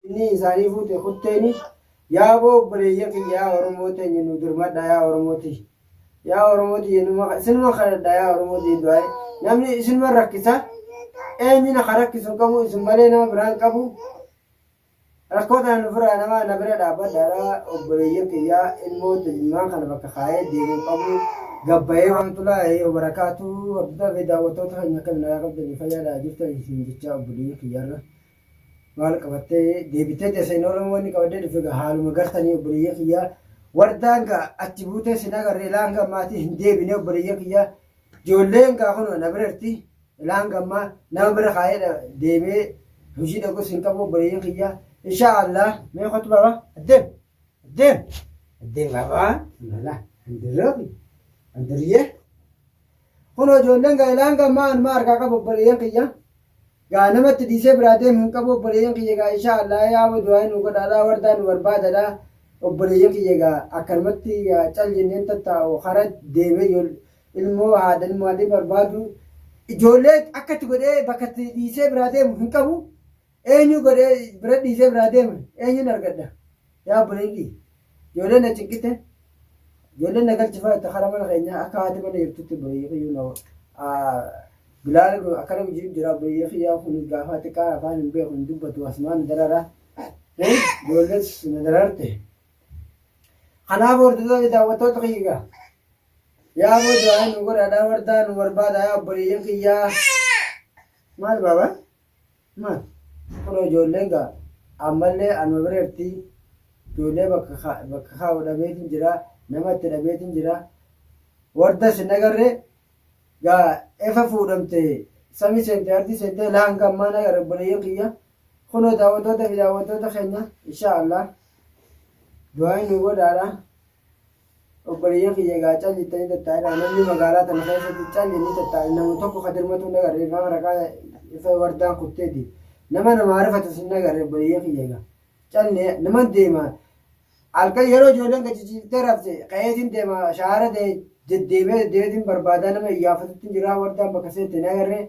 Inni isaanii fuute kutteeni. Yaa boo obboleeyyan kiyya yaa Oromoo teenya nu dirmadha yaa Oromoo tiyya. Yaa Oromoo tiyya numa isinuma kadhadha yaa Oromoo tiyya du'aa'e. Namni isinuma rakkisa eenyina ka rakkisu hin qabu isin malee nama biraa hin qabu. Rakkoo tana nufirraa nama na bira dhaabbadhaadha obboleeyyan kiyya ilmoo tilmaan kana bakka kaa'ee deemu hin qabu. Gabbayee waan Warahmatullahi wabarakatuh. Hordoftoota fi daawwattoota keenya akka nagaa qabdanii fayyaadhaa jirtan isin jechaa obboleeyyan kiyyarra. Maal qabattee deebitee teessa hin oolama wanni qabadee dhufe gaa haaluma gartanii obboleeyyan kiyya wardaan gaa achi buutee sin agarre ilaa hanga ammaatii hin deebine obboleeyyan kiyya ijoolleen gaa kunoo na bira jirti ilaa hanga ammaa nama bira kaayee dha- deemee hojii dhaqus hin qabu obboleeyyan kiyya inshaa Allah mee kottu baaba addeem addeem addeem baaba alhamdulillah andirroobi andirriyee Kunoo ijoolleen gaa'elaa hanga ammaa anumaa harkaa qabu obboleeyyan kiyya. Gaa namatti dhiisee biraa deemu hin qabu obboleeyyan kiyya gaa inshaa Allah yaa wa du'aa nu godhaadhaa wardaa nu barbaadadha obboleeyyan kiyya gaa akkanumatti gaa cal jenneen tattaa'u hara deemee yoo ilmoo haadha ilmoo haadhee barbaadu ijoollee akkatti godhee bakkatti dhiisee biraa deemu hin qabu Eenyu godhee bira dhiisee biraa deeme eenyuun argadha yaa obboleeyyii ijoollee na cinqite ijoollee na galchifaa itti karaa mana keenyaa akka haati mana jirtutti obboleeyyii kiyyuu na bilaala kun akkana gujiin jira obboleeyyii kiyyaa kun gaafaa xiqqaa afaan hin beeku hin dubbatu asumaan na darara ijoollees na dararte kanaaf hordoftoota daawwattoota kiyyaa yaa boo du'aa nu godhaadhaa wardaa nu barbaada yaa obboleeyyii kiyyaa maal baabaa Maal kunoo ijoolleen gaa ammallee anuma bira jirti ijoollee bakka bakka kaa'u dhabeetin jira nama itti dhabeetin jira wardas hin agarre gaa efa fuudhamte sami seente ardii seente laa hanga ammaa hin agarre obboleeyyan kiyya kunoo daawwattoota fi daawwattoota keenya inshaa allah du'aayin nu godhaadha. obboleeyyan kiyya egaa calli ittanii tattaa'inaa namni magaalaa tana keessatti calli ni tattaa'e namu tokko ka dirmatu hin agarre egaa waraqaa ifa wardaan kutteeti nama nama arifatus hin agarre obboleeyyan kiyya egaa calli naman deema halkan yeroo ijoolleen gachichiiftee rafte qa'eetiin deema shaara deddeemee deddeemeetiin barbaadaa nama iyyaafatutti jiraa wardaan bakka seette hin agarre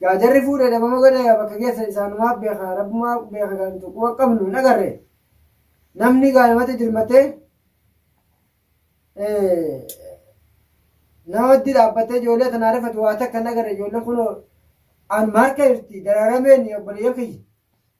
Gaa jarri fuudhe dhabama godhe gaa bakka geessan isaanumaa beeka rabbumaa beeka gaa nuti quba qabnu hin agarre namni gaa namatti dirmattee namatti dhaabbattee ijoollee tanaa rifatu waa takka hin agarre ijoolleen kunoo anuma harka jirti daraarameen obboleeyyan kiyya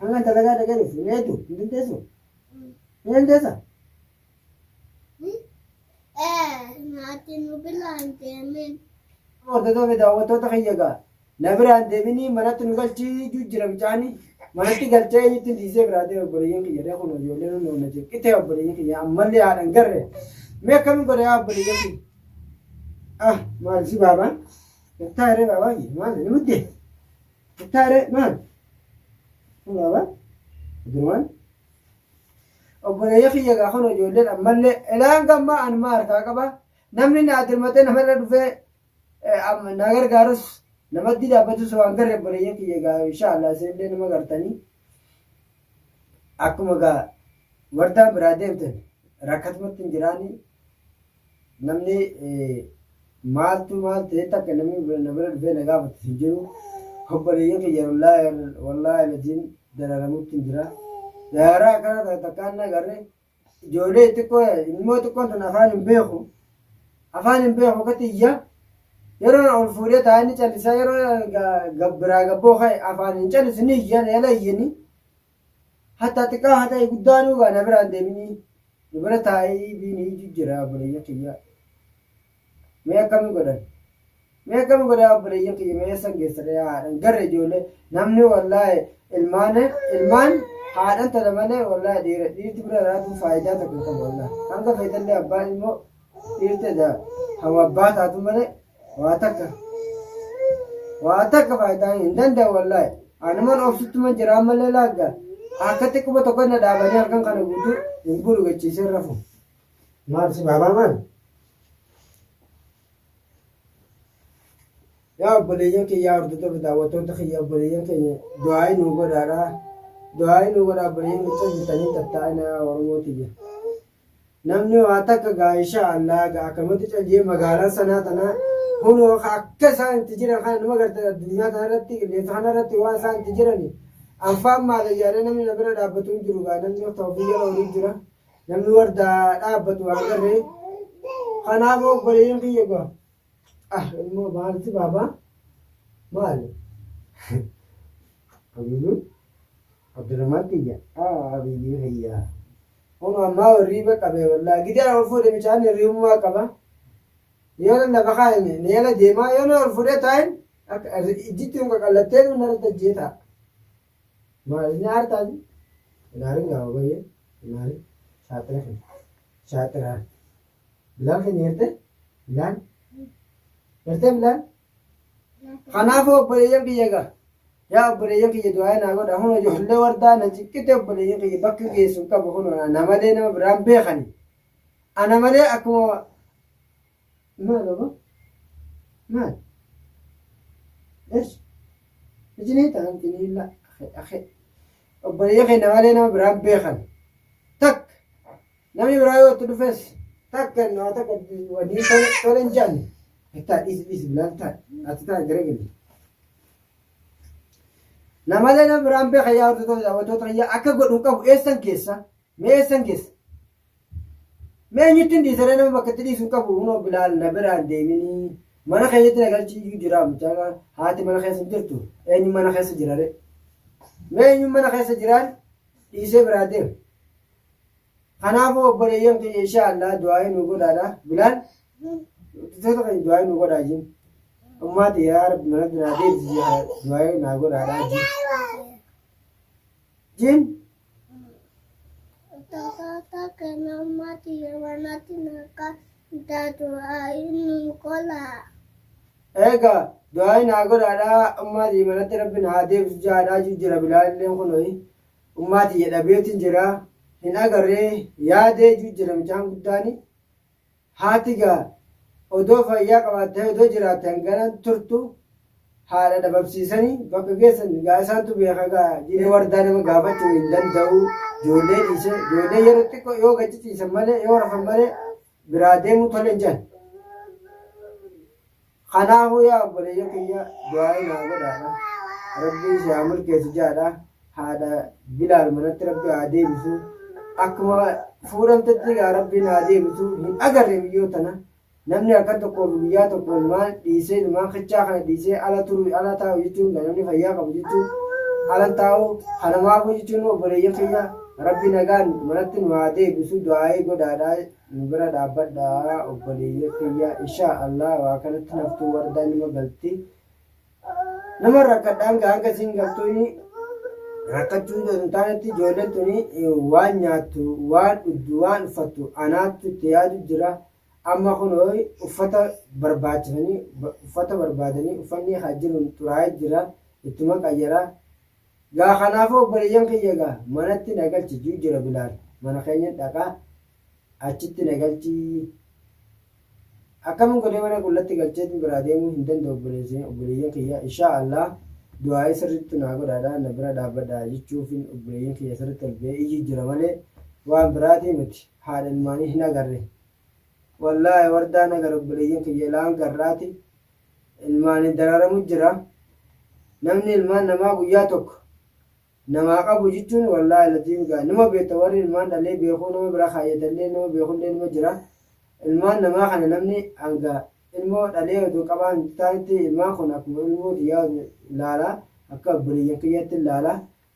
Hangan dalagaa dhaqeeruuf hin eedu hin dandeessu. Ni dandeessa. Naati nu bilaan deemin. Hordoftoota fi daawwattoota kiyya egaa na biraan deebinii manatti nu galchii jijjiira bichaani manatti galchee eenyutti dhiisee biraa ta'e obboleeyyan kiyya dha kun ijoollee nu na jeeqite obboleeyyan kiyya ammallee haadhan garre mee akkamiin godha yaa obboleeyyan kiyya ah maal si baabaa. Muktaa irree baabaa fi maal ni muddee? Muktaa irree maal? Kun baabaa? Abdurmaan? Obboleeyya kiyya gaa kun ijoolleen ammallee elaan gammaa an maa harkaa qaba? Namni na dirmatee namarra dhufee na gargaarus namatti dhaabbatus waan garre obboleeyya kiyya gaa inshaallah isinillee nama gartanii akkuma gaa wardaan biraa deemtan rakkatmatti hin jiraanii Namni maaltu maal ta'e takka namni na bira dhufee na gaafatu hin jiru. Obboleeyyan kiyya wallaahi laziim dararamutti jira. Dararaa akkana ta'e takkaan na garre ijoollee xiqqoo ilmoo xiqqoon tun afaan hin beeku. Afaan hin beeku akka tiyya yeroo ol fuudhee taa'anii callisaa yeroo biraa gabboo ka'e afaan hin callisu ni iyyan eela iyyanii Hatta xiqqaa haa ta'e guddaanuu gaa na biraan deeminii nu bira taa'ii biin hiiju jira obboleeyyan kiyya. Mee akkami godhan? Mee akkami godhan obboleeyyan kiyya mee eessan geessan yaa haadhan garre ijoollee namni wallaahi ilmaan ilmaan haadhan tana malee wallaahi dhiira dhiirti bira raatuun faayidaa tokko hin qabu wallaahi hanga feetallee abbaan ilmoo Dhiirti edaa hama abbaa taatu malee waa takka waa takka faayidaa hin danda'u wallaahi. Anuman obsittuman jiraa malee laagga akka xiqquma tokko na dhaabanii halkan kana guutuu hin bulu gachiisee rafu. Maal si baabaa maal? Yaa obboleeyyan kiyya yaa hordoftoota daawwattoota kiyya obboleeyyan keenya du'aa'ii nuu godhaadhaa. Du'aa'ii nuu godhaa obboleeyyan miccaa jirtanii tattaa'ina yaa Oromoo tiyya. Namni waa takka gaa inshaa Allah gaa akkamatti cal jee magaalaan sanaa tanaa kunoo akka isaan itti jiran kana nama garte addunyaa kanarratti qilleensa kanarratti waan isaan itti jirani anfaan maala yaada namni na bira dhaabbatu hin jiru gaa namni akka ofii jala horii jira namni wardaa dhaabbatu waan garree kanaaf obboleeyyiin kiyya gaa ah immoo maalti baabaa maali Abiyyu Abdurrahmaan kiyya ah Abiyyu kiyya. Kun ammaa warriiba qabee wallaa gidee ol fuudhe mucaan hirriyummaa qaba. Yoo nan lafa kaa'ime ni ala deemaa yoo na ol fuudhee taa'in akka ijjitti kun qaqallattee nu narratti ajjee taa'a. Maal inni aartaan ilaalin gaafa bayyee ilaalin shaaxira kee shaaxiraan bilaal keenya hirte bilaal hirte bilaal Kanaafuu obboleeyyan kiyya egaa yaa obboleeyyan kiyya du'aa naa godha huno ijoollee wardaa na ciqqite obboleeyyan kiyya bakka geessu hin qabu huno ana malee nama biraan beekani ana malee akkuma maal obo maal esh ijinii ta'an tiniilla akhe akhe obboleeyyan kiyya na malee nama biraan beekani takka Namni biraa yoo itti dhufes takka inni waa takka wanii tole tole hin jedhan. Bittaa dhiisi dhiisi bilaal taa'e ati taa'e gara gadi. Namalee nama biraan beeka yaa hordoftoota daawwattoota fayyaa akka godhu hin qabu eessan keessa mee eessan keessa. Mee eenyutti hin dhiisaree nama bakka itti dhiisu hin qabu hunoo bilaal na biraan deeminii mana keessatti na galchii iyyuu jira mucaa haati mana keessa hin jirtu eenyu mana keessa jirare. Mee eenyu mana keessa jiraan dhiisee biraa deema. Kanaafuu obboleeyyan keenya inshaa Allah du'aa'ii nu godhaadha. Bilaal dubartoota keenya du'aa'ii nu godhaa jiin. Ummaa ta'e yaa rabbi manatti naa deebisi jedha du'aa'ii naa godhaadha jiin. Jiin Tata kena mati mana tinaka dadu ini kola. eegaa du'aa'ii naa godhaadha ummaa ta'e manatti rabbi naa deebisi jedha jira Bilaal illee kunoi. Ummaa tiyya dhabeetin jira hin agarree yaadee ju jira mucaan guddaani haati gaa odoo fayyaa qabaattee odoo jiraatte hangana turtu haadha dhababsiisani bakka geessan gaa isaantu beeka gaa jini wardaa nama gaafachuu hin danda'u joollee dhiise joollee yeroo xiqqoo yoo gadi ciisan malee yoo rafan malee biraa deemuu tole hin jedhan. Kanaafuu yaa obboleeyya kiyya du'aa'ii naa godhaadha. Rabbii si haa milkeessu jaadha. Haadha Bilaal manatti Rabbi haa deebisu. Akkuma fuudhamtetti egaa Rabbiin haa deebisu. Hin agarre biyyoo tana. Namni halkan tokkoo fi guyyaa tokko ilmaan dhiisee ilmaan kichaa kana dhiisee ala turu ala taa'u jechuun namni fayyaa qabu jechuun ala taa'u kanamaafuu jechuun obboleeyya kiyya Rabbi nagaan manatti nu haa deebisu du'aa'ii godhaadha nu bira dhaabbadha obboleeyyan kiyya inshaa Allah waa kanatti naftuu wardaa nima galti nama rakkadha hanga hanga siin galtuuni rakkachuu osoo hin taanetti ijoolleen tuni waan nyaattu waan dhugdu waan uffattu anaattu itti yaadu jira amma kun uffata barbaachisanii uffata barbaadanii uffanni haa jiruun xuraa'ee jira ittuma qayyara Gaa kanaafuu obboleeyyan kiyya gaa manatti na galchi juu jira bilaal mana keenyan dhaqaa achitti na galchii akkamin godhee mana qullatti galcheetin biraa deemuu hin danda'u obboleeyyan obboleeyyan kiyya inshaa Allah du'aa'ii sirriitti naa godhaadha na bira dhaabbadha jechuufin obboleeyyan kiyya sirriitti ol ba'ee iyyuu jira malee waan biraatii miti haadha ilmaanii hin agarre Wallahi wardaa na gar obboleeyyan kiyya ilaan garraati ilmaani dararamu jira namni ilmaan namaa guyyaa tokko namaa qabu jichuun wallahi laziim gaa nima beekta warri ilmaan dhalee beekuu nama bira kaayyatallee nama beekullee nima jira ilmaan namaa kana namni hanga ilmoo dhalee odoo qabaa hin taanitti ilmaan kun akkuma ilmoo tiyyaa laala akka obboleeyyan kiyyatti laala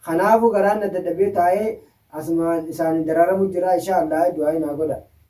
kanaafu garaan na dadhabee taa'ee asumaan isaani dararamu jira insha Allah du'aa naa godha.